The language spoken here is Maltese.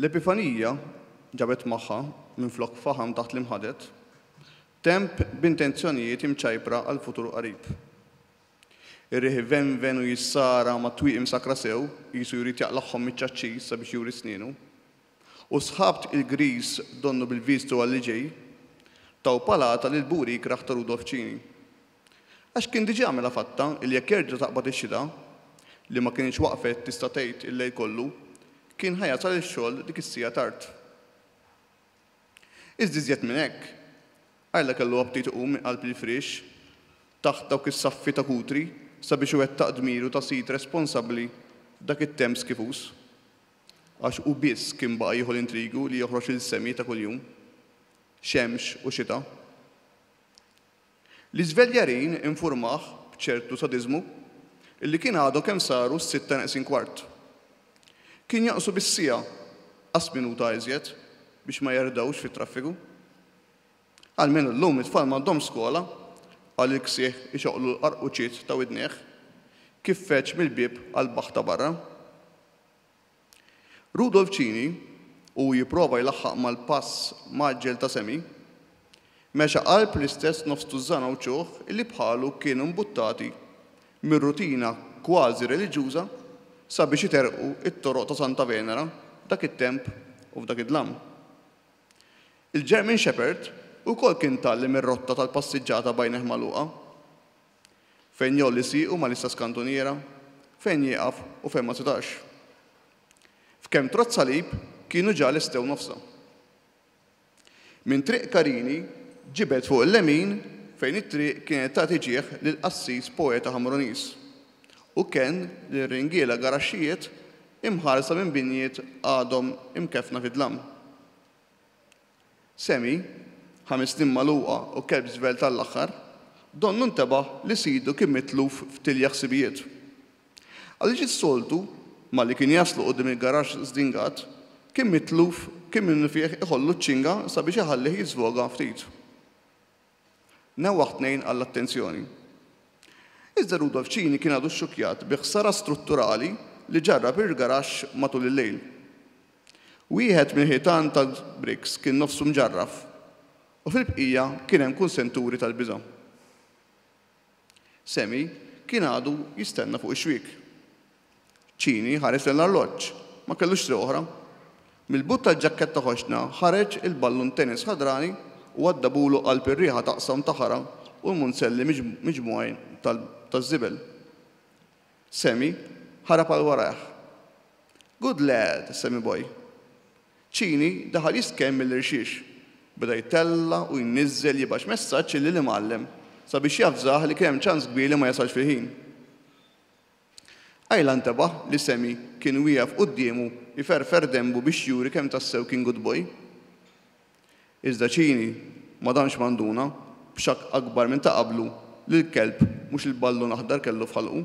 L-Epifanija ġabet magħha, minflok faħam taħt l-imħaded, temp b'intenzjonijiet imċajpra għall-futur qarib. Ir-riħ ivenven u jissara mat-twieqi msakkra sew, qisu jrid jaqlagħhom miċ-ċaċċis sabiex juri snienu. U s-sħab tqil griż donnu bil-viżtu għal li ġej, taw palata lill-buwriek raħ ta' Rudolf Cini. Għax kien diġà għamilha fatta li jekk jerġa' taqbad ix-xita, li ma kinitx waqfet tista' tgħid il-lejl kollu, kien ħa jasal ix-xogħol dik is-siegħa tard. Iżda iżjed minn hekk, Ayla kellu aptit iqum minn qalb il-firiex, taħt dawk is-saffi ta' kutri sabiex iwettaq dmiru ta' sid responsabbli f'dak it-temp skifuż. Għax hu biss kien baqa' jieħu l-intrigu li joħroġ il-semi ta' kuljum, xemx u xita. L-iżveljarin infurmah b'ċertu sadiżmu li kien għadhom kemm saru s-sitta neqsin kwart. Kien jonqsu bis-siegħa, qas minuta iżjed, biex ma jerdgħux fit-traffiku. Almenu llum it-tfal m'għandhomx skola, qal il-ksiħ ixoqqlu l-qarquċiet ta' widnejh kif feġġ mill-bieb għall-baħħ ta' barra. Rudolf Cini, u jipprova jlaħħaq mal-pass mgħaġġel ta' Semi, mexa qalb l-istess nofs tużżana u ċuħ li bħalu kienu mbuttati mir-rutina kważi reliġjuża sabiex iterrqu t-toroq ta' Santa Venera f'dak it-temp u f'dak id-dlam. Il-German Shepherd ukoll kien tgħallem ir-rotta tal-passiġġata b'għajnejh magħluqa. Fejn jgħolli siequ mal-istess kantuniera, fejn jieqaf u fejn ma setax. F'kemm trott salib kienu ġa lestew nofsha. Minn Triq Karini ġibed fuq il-lemin fejn it-triq kienet tagħti ġieħ lill-qassis poeta Ħamruniż u kenn lil ringiela garaxxijiet imħarsa minn binjiet għadhom imkeffna fid-dlam. Sammy, ħames snin magħluqa u kelb żvelt għall-aħħar, donnu ntebaħ li sidu kien mitluf f'tilja ħsibijiet. Għaliex is-soltu, malli kien jaslu quddiem il-garaxx żdingat, kien mitluf kien minnufih iħollu ċ-ċinga sabiex iħallih jiżvoga ftit. Newwaħ tnejn għall-attenzjoni. Iżda Rudolf Cini kien għadu xxukkjat bi ħsara strutturali li ġarrha bir-rgaraxx matul il-lejl. Wieħed mill-ħitan tal-bricks kien nofsu mġarraf u fil-bqija kien hemm kunsenturi tal-biża'. Sammy kien għadu jistenna fuq ix-xwiek. Cini ħares lejn l-arloġġ. Ma kellux triq oħra. Mill-but tal-ġakketta ħoxna ħareġ il-ballun tennis ħadrani u għaddabulu qalb ir-riħa t'aqsam ta' ħara u l-munzelli miġmugħin taż-żibel. Sammy ħarab għal warajh. Good lad, Sammy boy! Cini daħal jiskell mill-irxiex. Beda jtella' u jniżżel jibgħax messaġġ illi l-imgħallem sabiex javżah li kien hemm ċans kbir li ma jasalx fil-ħin. Ayla ntebaħ li Sammy kien wieqef quddiemu jferfer denbu biex juri kemm tassew kien good boy. Iżda Cini ma damx ma nduna, b'xokk akbar minn ta' qablu, li l-kelb mhux il-ballun aħdar kellu f'ħalqu.